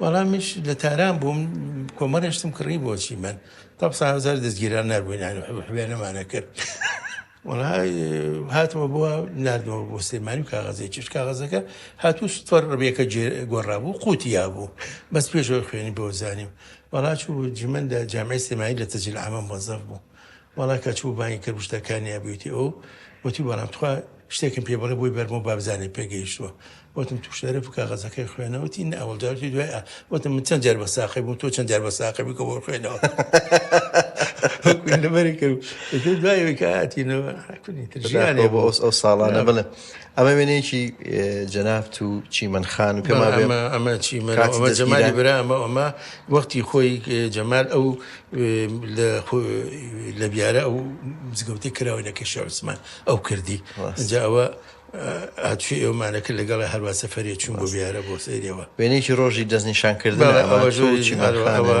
وەڵامیش لە تاران بووم کۆمەڵێشتم کڕی بۆچی من تا سا هزار دەستگیران نربووینانی حوێنەمانە کرد وڵا هاتمە بووە نردەوە بۆ سلێمانی و کاغەزێک چش کاغەزەکە هاتوو سوپەر ڕبیەکە گۆڕابوو قوتیا بوو بەس پێشەوە خوێنی بۆ زانیم وڵاچ و جمندا جامعی سلێمانی لە تەجل ئامە مۆزەف بوو وەڵا کە چوو بانگی کرد وشتا کانیاب ویتی ئەو وتی بەڵام تخوا شتێکم پێ بڵێ بۆی بەرمۆ بابزانێ پێ گەیشتووە وتم تو شەرف و کاغەزەکەی خوێنە وتی نە ئەوڵ جارتی دوای ئا وتم من چەند جار بە ساقی بوو تۆ چەند جار بە ساقی بکە بۆ خوێنەوە لەبەری کرد دوایەوەی کاتینەوە ژیانێ بۆ ئەو ساڵانە بڵێ ئەمە وێنەیەکی جەنابت و چیمەن خان و پێ ما بێ ئەمە چیمەن ئەمە جەمالی برا ئەمە ئەمە وەختی خۆی جەمال ئەو لە بیارە ئەو مزگەوتی کراوە لە کەشە عوسمان ئەو کردی جاوە هاتوی ئێومانەکە لەگەڵ هەروە سەفرێ چوون بۆ بیارە بۆ سەیرەوە وێنێکی ڕۆژی دەستنیشانکردن ئەمە چیمەوە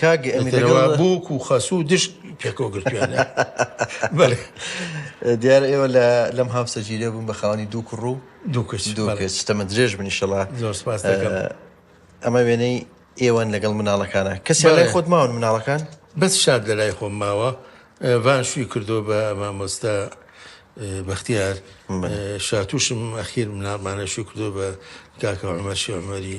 کاک ئەمین لەگەڵ ئیتر بووک و خەسوو و دشت پێکەوە گرتوویانە بەلێ. دیارە ئێوە لە لەم هاوسەرگیرییە بوون بە خاوەنی دوو کوڕ و دوو کچ دوو بەلێ. کچ، تەمەن درێژ بن ئیشەڵا. زۆر سپاست دەکەم. ئەمە وێنەی ئێوەن لەگەڵ مناڵەکانا. کەسیان لای بەلێ. خۆت ماون مناڵەکان؟ بەس شاد لە لای خۆم ماوە. ڤان شووی کردووە بە مامۆستا بەختیار. شاتووشم ئەخیر مناڵمانە شووی کردووە بە کاکە عومەر شێخ عومەری.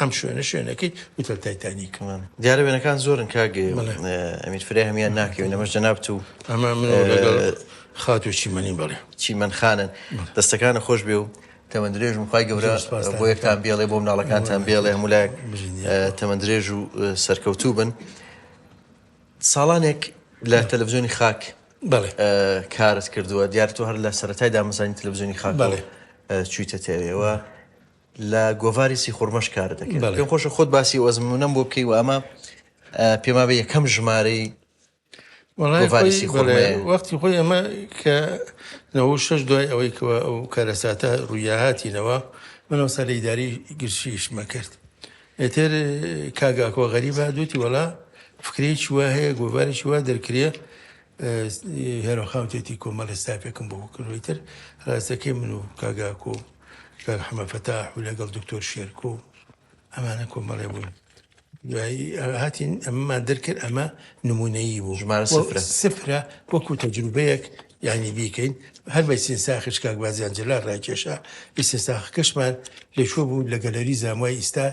ئەم شوێنە شوێنەکەی هوتل تایتانیک دیارە وێنەکان زۆرن کاک ئەمیر فرای هەمیان ناکەوێت لەمەش جەنابت و ئەمە من خاتو چیمەنی بڵێ چیمەن خانن دەستەکانە خۆش بێ و تەمە درێژ وخوای گەورە بۆ یەکتان بێڵێ بۆ مناڵەکانتان بێڵێ هەمولایەک تەمە درێژ و سەرکەوتوو بن ساڵانێک لە تەلەڤزیۆنی خاک بڵێ کارت کردووە دیارتۆ هەر لە سەرەتای دامەزانی تەلەڤزیۆنی خاک بڵێ چویتە تێوێەوە لە گۆڤاری سیخوڕمەش کار دەکرد پێم خۆشە خۆت باسی ئەو ئەزموونەم بۆ بکەی و ئەمە پێمابێ یەکەم ژمارەی وەختی خۆی ئەمە کە نەوە شش دوای ئەوەی کەەوە ئەو کارەساتە ڕوویاهاتینەوە منەوە سەر لە ئیداری گرشیشمە کرد ئێتر کاگاکۆ غەریبە دوتی وەڵا فکرێکی وا هەیە گۆڤارێکی وا دەرکرێ هێرۆ خان وتێتی کۆمەڵێ ستافێکم بۆ کردووی تر ڕاستەکەی من و کاگاکۆ و کاک حەمە فەتاح و لەگەڵ دکتۆر شێرکۆ ئەمانە کۆمەڵێ بووین دوایی هاتین ئەمەمان دەرکرد ئەمە نمونەیی بوو ژمارە سفرە. سفرە وەکو تەجروبەیەک یعنی بیکەین هەر بە ئیسنساخش کاک بازیان جەلال ڕایکێشا ئیسنساخەکەشمان لەکوێ بوو لە گەلەری زانوای ئیستا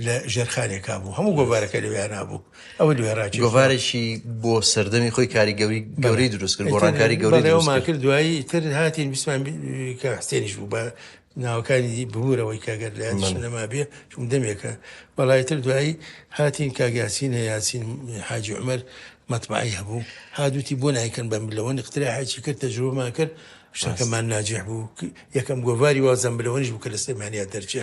لە ژێرخانێکا بوو هەموو گۆڤارەکە لەوێیانا بوو ئەوە لەوێ ڕاجی گۆڤارێکی بۆ سەردەمی خۆی کاری گەوری گەوری دروست کرد گۆڕانکاری گەوری دروستمان کرد دوایی تر هاتین بیسمان کە حسێنیش بوو بە ناوەکانی ببوورەوەی کاگەر لە یادیشم نەما بێ چون دەمێکە بەڵای تر دوایی هاتین کاگیاسین هەیە یاسین حاجی عمر مەتبعی هەبوو هادوتی بۆ نایکەن بەم لەوە نخترا حاجی کرد تەجروبەمان کرد شتەکەمان ناجح بوو یەکەم گۆڤاری وازم بلەوەنیش بوو کە لە سلێمانیا دەرچێ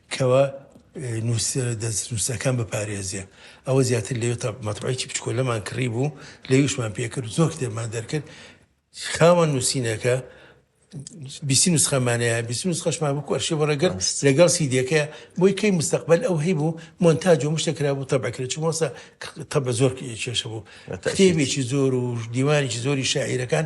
کوا نوسەرە دەست نوسەکان بپارێزێ ئەوە زیاتر لەوێ تا مەتبەعێکی بچکۆلەمان کڕی بوو لەویشمان پێکرد زۆر کتێبمان دەرکرد خاوەن نووسینەکە بیسی نسخەمانەیە بیسی نسخەشمان بکو ئەرشی بەڕێگەر لەگەڵ سیدەکە بۆی کەی مستەقبل ئەو هەی بوو مۆنتاج و مشتە کرا بوو تەبکرێت چ مۆسە تە بە زۆر کێشە بوو کتێبێکی زۆر و دیوانێکی زۆری شاعیرەکان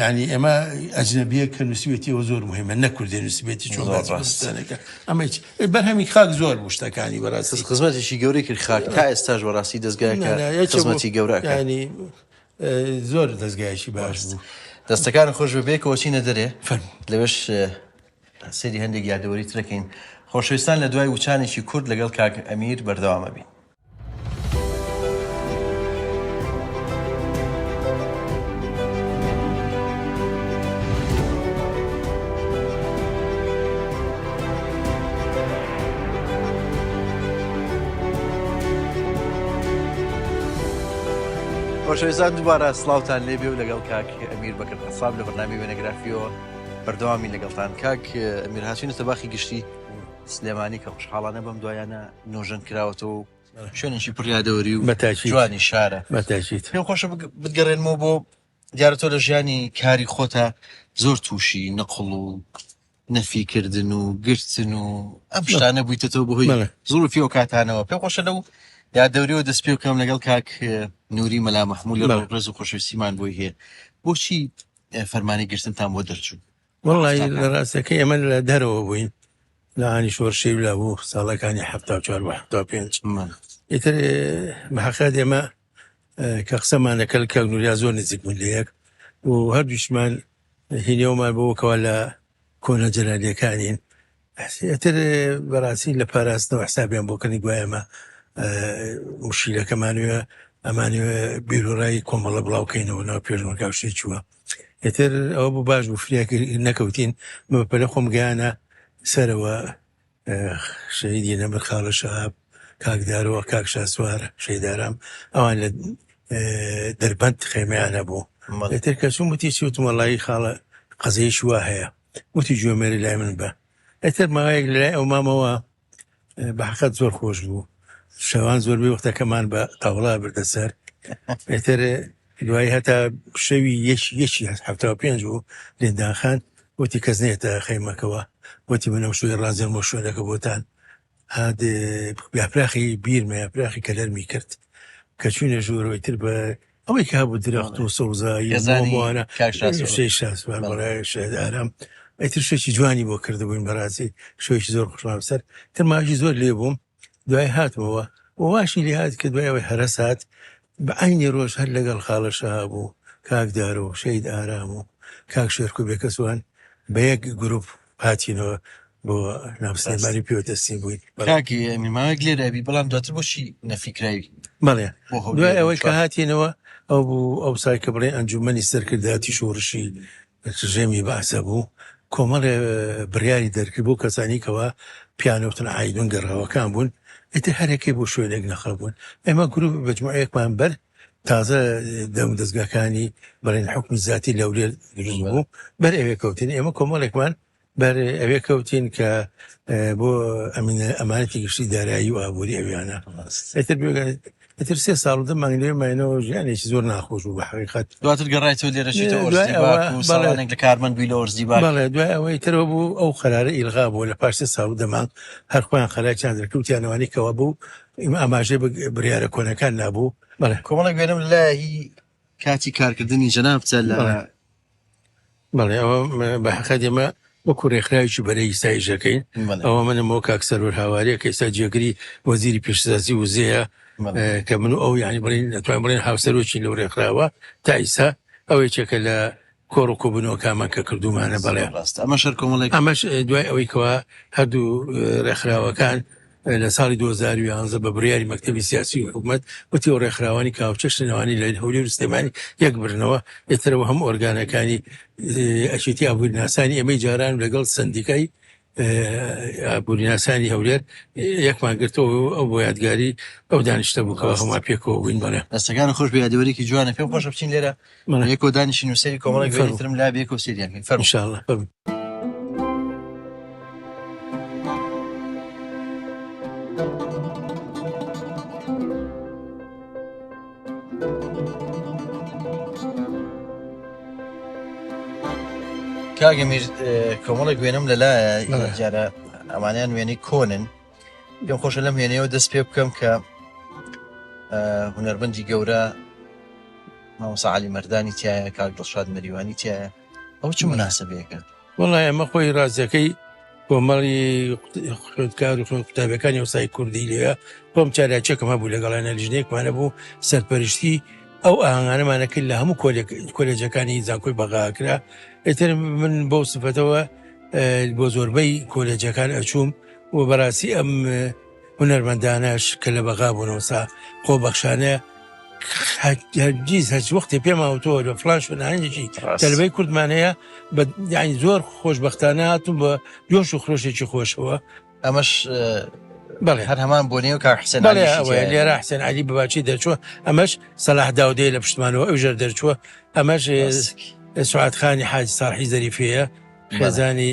یانی ئێمە ئەجنەبیە کە نووسیوێتیەوە زۆر مهمە نە کوردێ نووسبێتی چۆن ڕاستانەکە ئەمە بەرهەمی خاک زۆر بوو شتەکانی بەڕاست خزمەتێکی گەورەی کرد خاک تا ئێستاش بەڕاستی دەستگایەکە خزمەتی گەورەکانی زۆر دەستگایشی باش بوو دەستەکان خۆش بەبێکەوە چینە دەرێ لەوێش سری هەندێک یادەوەری ترەکەین خۆشویستان لە دوای وچانێکی کورد لەگەڵ کاک ئەمیر بەردەوامە بین. خۆشەویستان دووبارە سلااوان لێبێ و لەگەڵ کاک ئەمیر بەکرد حساب لە بەنامی وێنەگرافیەوە بەردەوامی لەگەڵتان کاک ئەمیر هاچین سەباخی گشتی سلێمانی کە خوشحاڵانە بەم دوایانە نۆژەن کراوەتەوە و شوێنێکی پڕیادەوەری و بەتاکی جوانی شارە بەتاکیت پێم خۆشە بگەڕێنمەوە بۆ دیارە تۆ لە ژیانی کاری خۆتا زۆر تووشی نەقڵ و نەفیکردن و گرتن و ئەم شتانە بوویتەوە بەهۆی زۆر فیۆ کاتانەوە پێ خۆشە لەو یا دەوریەوە دەست پێ بکەم لەگەڵ کاک نووری مەلا مەحمول لە ڕێز و خۆشویستیمان بۆی هەیە بۆچی فەرمانی گرتنتان بۆ دەرچوو وڵی لە ڕاستەکە ئێمە لە دەرەوە بووین لە ئانی شۆرشەی لا بوو ساڵەکانی ه چوار پێنج ئیتر بەحقا دێمە کە قسەمانەکەل کە نوریا زۆر نزیک بوون لە یەک و هەردووشمان هینەوەمان بۆکەوە لە کۆنە جەلالیەکانین ئەسێ ئیتر بەڕاستی لە پاراستنەوە حسابیان بۆ کەنی گوایە ئەمە ئە، مشیرەکەمانوێ ئەمانوێ بیرورای کۆمەڵە بڵاوکەینەوە ناو پێشمەرگا و شتێ چووە ئیتر ئەوە بوو باش بوو فریا کرد- نەکەوتین من بە پەلە خۆم گەیانە سەرەوە ئە، شەهیدی نەمر خاڵە شەهاب کاک دارۆ کاک شاسوار شەیدارام ئەوان لە ئە، دەربەند خێمەیان هەبوو مەڵێ. ئیتر کە چووم وتی چی وتم وەڵایی خاڵە قەزەیەکی وا هەیە وتی جۆمێری لای من بە ئەتر ماوەیەک لای ئەو مامەوە بەحقەت زۆر خۆش بوو شەوان زۆربەی وەختەکەمان بە تاوڵا بردە سەر ئەتر دوای هەتا شەوی یەش یەکی هەفتا پێنج و لێندانخان وتی کەس نێتە خەیمەکەوە وتی منەم شوێ ڕازێن بۆ شوێنەکە بۆتان هاد یاپراخی بیرمە یاپراخی کەلەرمی کرد کە چوینە ژوورەوەی تر بە ئەوەی کە هەبوو درەخت و سەوزاییوانە ئارام ئەتر شوێکی جوانی بۆ کردبووین بەڕاستی شوێکی زۆر خوشمان سەر تەماژی زۆر لێ بووم دوای هاتمەوە واشی لێ هاات کە دوایەوەی هەرە سات بە ئاینی ڕۆژ هەر لەگەڵ خاڵەشە بوو کاکدار و شەید ئارام و کاک شێرکو بێکەسوان بە یەک گروپ هاتینەوە بۆ ناو سلێمانی پێوە دەستین بووین کاکی ئەمیر ماوەیەک لێرە بی بەڵام دواتر بۆچی نەفی کراوی بەڵێ بۆ هەولێر دوای ئەوەی کە هاتینەوە ئەو بوو ئەو سای کە بڵێ ئەنجومەنی سەرکردایەتی شۆڕشی ڕژێمی بەعسە بوو کۆمەڵێ اه، بڕیاری دەرکرد بۆ کەسانی کەوا پیانەوتن عیدون گەڕاوەکان بوون ئیتر هەرێکێ بۆ شوێنێک نەخەبوون ئێمە گروپ مجموعەیەکمان بەر تازە دەم دەزگاکانی بەڵێن حکومی زیاتی لەولێر دروست بوو بەر ئەوێ کەوتین ئێمە کۆمەڵێکمان بەر ئەوێ کەوتین کە بۆ ئەمینە ئەمانەتی گشتی دارایی و ئابووری ئەویانە ئەتر بێگەن ئەتر سێ ساڵ دە مانگ لێ ماینەوە ژیانێکی زۆر ناخۆش و بە حقیقت دواتر گەڕایتەوە لێرەشیتەوەڵێک لە کارمەند بووی لە ئۆرزی باڵێ دوای ئەوەی ترەوە بوو ئەو قەرارە ئیلغا بوو لە پارسێ ساڵ دەمان هەرخۆیان خەراکیان دەکەوتیانەوانی کەەوە بوو ئیمە ئاماژەی بە بریارە کۆنەکان نابوو بەڵێ کۆمەڵێک وێنەم لە هی کاتی کارکردنی جەنابتە لە بەڵێ. بەڵێ ئەوە م- بە حەقە دێمە وەکو رێکخراویی بەرەی ئیسایشەکەین بەڵێ. ئەوە منم بۆ کاک سەرور هاوارەیە کە ئێستا جێگری وەزیری پێشسازی وزەیە بەڵێ. اه، کە من و ئەو یعنی بڵین دەتوانین بڵێن هاوسەرۆکی لەو رێکخراوە تا ئیستا ئەوە یەکێکە لە کۆڕ و کۆبوونەوەکانمان کە کردوومانە بەڵێ ڕاستە ئەمەش هەر کۆمەڵێک ئەمەش دوای ئەوەی کەوا هەردوو ڕێکخراوەکان لە ساڵی 2011 بە بڕیاری مەکتتەبی سیاسی و حکوومەت وتی و ڕێکخراوانی کاوچەش نەوانی لە هەولی وستێمانی یەک برنەوە ئێترەوە هەم ئۆرگانەکانی ئەشێتی ئابووری ناسانی ئەمەی جاران لەگەڵ سندیکای ئابووریناسانی هەولێر یەکمان گرتەوە و ئەو بۆ یادگاری ئەو دانیشتە بوو کەوا هەما پێکەوە بووین بەڵێ دەستەکان خۆش بە یادەوەرێکی جوانە پێم خۆشە بچین لێرە بەڵێ. یەکۆ دانیشین و سەری کۆمەڵێک فەرموو. وێنەی ترم لا بێکە و سێریان کەین فەرموو. انشاءالله فەرموو. کاگە میر کۆمەڵێک وێنم لەلایە جارە ئەمانیان وێنەی کۆنن پێم خۆشە لەم وێنەیەوە دەست پێ بکەم کە هوەربندی گەورە مامۆسا علی مردانی تایە کاک دڵشاد مەریوانی تایە ئەو چ مناسبەیەکە وەڵا ئێمە خۆی ڕاستەکەی کۆمەڵی خوێندکار و خوێن قوتابەکانی وسای کوردی لێە خۆم چالاچێکم هەبوو لەگەڵانە لیژنێکمانە بوو سەرپەرشتی ئەو ئاهنگانەمانە کرد لە هەموو کۆلێجەکانی زانکۆی بەغاکرا ئێتر من بۆ سفەتەوە بۆ زۆربەی کۆلێجەکان ئەچووم و بەڕاستی ئەم هونەرمەندانەش کە لە بەغا بوونەوەسا خۆ بەخشانەیە هەرگیز هەچ وەختێ پێماوتەوە لە فلان شوێنانێکی تەلبەی کوردمانەیە بە یعنی زۆر خۆشببختانە هاتون بە جۆش و خرۆشێکی خۆشەوە ئەمەش بەڵێ هەر هەمان بۆ نێو کار حسێن لێرا حسێن علی بباچی دەچوە ئەمەش سەلاح داودەیە لە پشتمانەوە ئەو ژەر دەرچووە ئەمەش سوعاتخانی حاج ساحی زەریفەیە خێزانی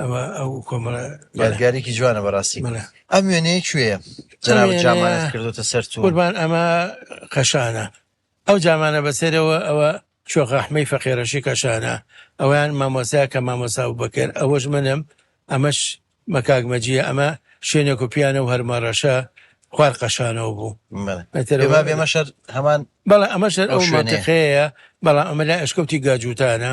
ئەوە ئەو کۆمەڵە یادگارێکی جوانە بەڕاستی مەلا ئەم وێنەیە کوێیە جەنابەت جامانت کردوتە سەر تو قوربان ئەمە قەشانە ئەو جامانە بەسەرەوە ئەوە شۆخەحمەی فەقێرەشی کەشانە ئەویان مامۆسا کە مامۆسا و بەکر ئەوەش منم ئەمەش مەکاگمەجیە ئەمە شوێنێک و پیانە و هەرمەڕەشە خوار قەشانەوە بوو بێما بێمە شەر هەمان بەڵام ئەمە شەر ئەو شوێنەیە. شوێنەیە بەڵام ئەمە لە ئەشکەوتی گاجووتانە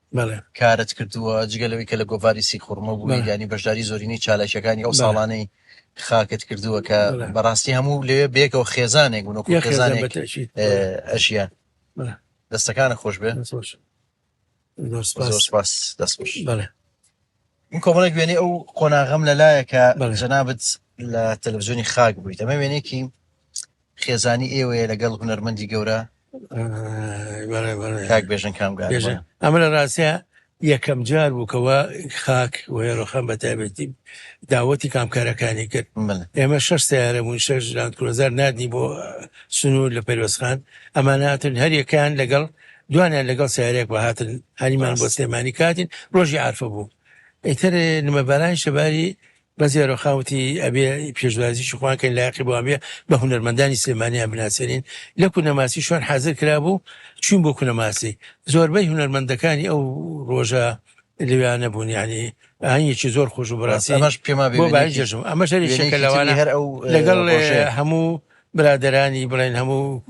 بەڵێ. کارت کردووە، جگە لەوەی کە لە گۆڤاری سیخوڕمە بوویت، بەڵێ. یانی بەشداری زۆرینەی چالاکییەکانی ئەو بەڵێ. ساڵانەی خاکت کردووە کە بەڵێ. بە ڕاستی هەموو لەوێ بەیەکەوە خێزانێک بوون، وەکوو یەک خێزان خێزانێک بەتەئکید، بەڵێ. ئەژیان. بەڵێ. دەستەکانت خۆش بێ. دەست خۆش. زۆر زۆر سوپاس. سوپاس، دەست خۆش. بەڵێ. من کۆمەڵێک وێنەی ئەو قۆناغەم لەلایە کە بەڵێ. جەنابت لە تەلەڤزیۆنی خاک بوویت ئەمە وێنێکی خێزانی ئێوەیە لەگەڵ هونەرمەندی گەورە آه، بەڵێ بەڵێ کاک بێژن کامگار بێژە ئەمە لە ڕاستە یەکەم جار بووکەوە خاک وێڕۆخان بە تایبەتی داوەتی کامکارەکانی کرد بەڵێ ئێمە شش سیارە بوون شش لاند کرۆزەر نردی بۆ سنوور لە پەروەسخان ئەماناتن هەریەکان لەگەڵ دوانیان لەگەڵ سیارەیەک بە هاتن هەنیمان بۆ سلێمانی کاتین ڕۆژی عرفە بوو ئیتر نمەبارانی شەباری بە زێرۆخاوتی ئەبێ پێشوازیی خوانکەین لاقی بۆ ئەبێ بە هونەرمەندانی سلێمانیان بناسێنین لە کونەماسی شوێن حاضر کرابوو چوین بۆ کونەماسی زۆربەی هونەرمەندەکانی ئەو ڕۆژە لەویانە بوون ینی ئاهنگێکی زۆر خۆش و بڕاستی ئەمەش پێما بۆ بای جەژم ئەمە شەریشەکە لەوانە هەر ئەو لەگەڵ هەموو برادەرانی بڵێن هەموو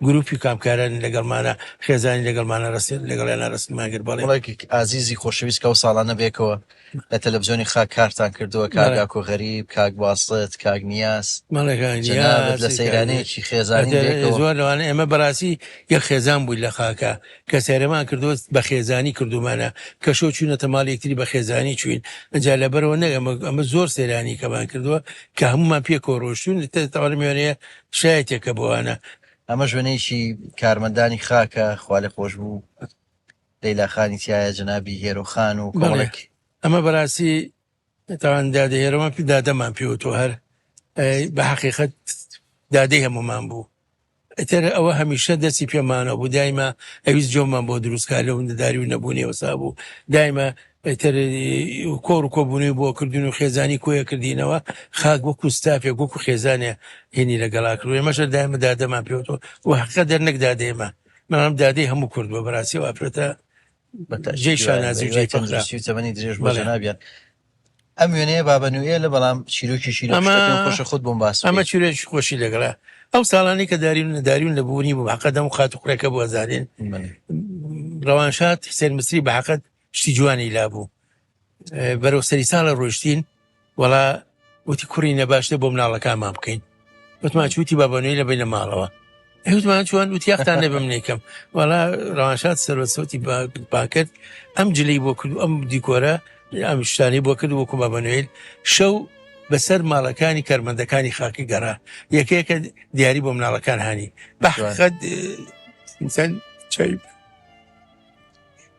گروپی کامکارانی لەگەڵمانە خێزانی لەگەڵمانە ڕستن لەگەڵیانە ڕستمان کرد بەڵێ ڵایک ئازیزی خۆشەویست کە ئەو ساڵانە بێکەوە لە تەلەفزیۆنی خاک کارتان کردووە کاک بەڵێ ئاکۆ غەریب کاک باسط کاک نیاز بەڵێ کاک جەنابت لە نیاز کاک سەیرانەیەکی خێزانی بێکەوە زۆر لەوانە ئێمە بەڕاستی یەک خێزان بووین لە خاکە کە سەیرمان کردوە بە خێزانی کردومانە کە شۆ چوونەتە ماڵ یەکتری بە خێزانی چوین ئەجا لە بەرەوە نەگەمە ئەمە زۆر سەیرانی کەمان کردووە کە هەمومان پێ کۆرۆشتون تەوار میێنەیە شایەتێکە بۆوانە ئەمە شوێنێکی کارمەندانی خاکە خوالێ خۆش بوو لەیلاخانی تایە جەنابی هێرۆخان و کۆڵێک ئەمە بەراسی تاوان دادە ئێرەمان پێ دادەمان پێوتوە هەر ئەی، بە حقیقت دادەی هەمومان بوو ئیتر ئەوە هەمیشە دەستی پێمانە بوو دایمە ئەویست جۆمان بۆ دروستکە لە وندەداری و نەبوونی وەسا بوو دایمە ئیتر کۆڕ و کۆبوونەوەی بۆ کردن و خێزانی کۆیە کردینەوە خاک وەکو ستافێک وەکو خێزانێ هێنی لەگەڵا کرد ئێمەشە دایمە دادەمان پێوتەوە و حقە دەرنەک دادێمە منم دادەی هەموو کردووە بەراسی واپێتە جێی شانازی و جێی فەخرە. تەندروستی و تەمەنی درێژ بۆ بەڵێ. جەنابیان ئەم وێنەیە بابە نوئێلە بەڵام چیرۆکێکی لەو ئەمە- شتە پێم خۆشە خۆت بۆم باس ئەمە بکەیت چیرۆکی خۆشی لەگەڵە ئەو ساڵانەی کە داریون داریون لە بوونی بوو حەقە دەم خات و قڕێکە بوو ئەزانین بەڵێ. ڕەوانشاد حسێن مسری بە حەقت شتی جوانی لابوو بەرەو سەری ساڵە ڕۆشتین وەڵا وتی کوڕی نەباشتە بۆ مناڵەکانمان بکەین وتمان چوتی بابنەوەی لە بینە ماڵەوە ئەوتمان چۆن وتیاختان نەبە منێکم وەڵا ڕوانشاد سەرۆ سەوتی پاکرد ئەم جلی بۆ کرد ئەم دیکۆرە ئەم شتانی بۆ کرد وەکو بابنوێل شەو بەسەر ماڵەکانی کارمەندەکانی خاکی گەڕا یەکەیەکە دیاری بۆ مناڵەکان هاانی بەخەت چەند چای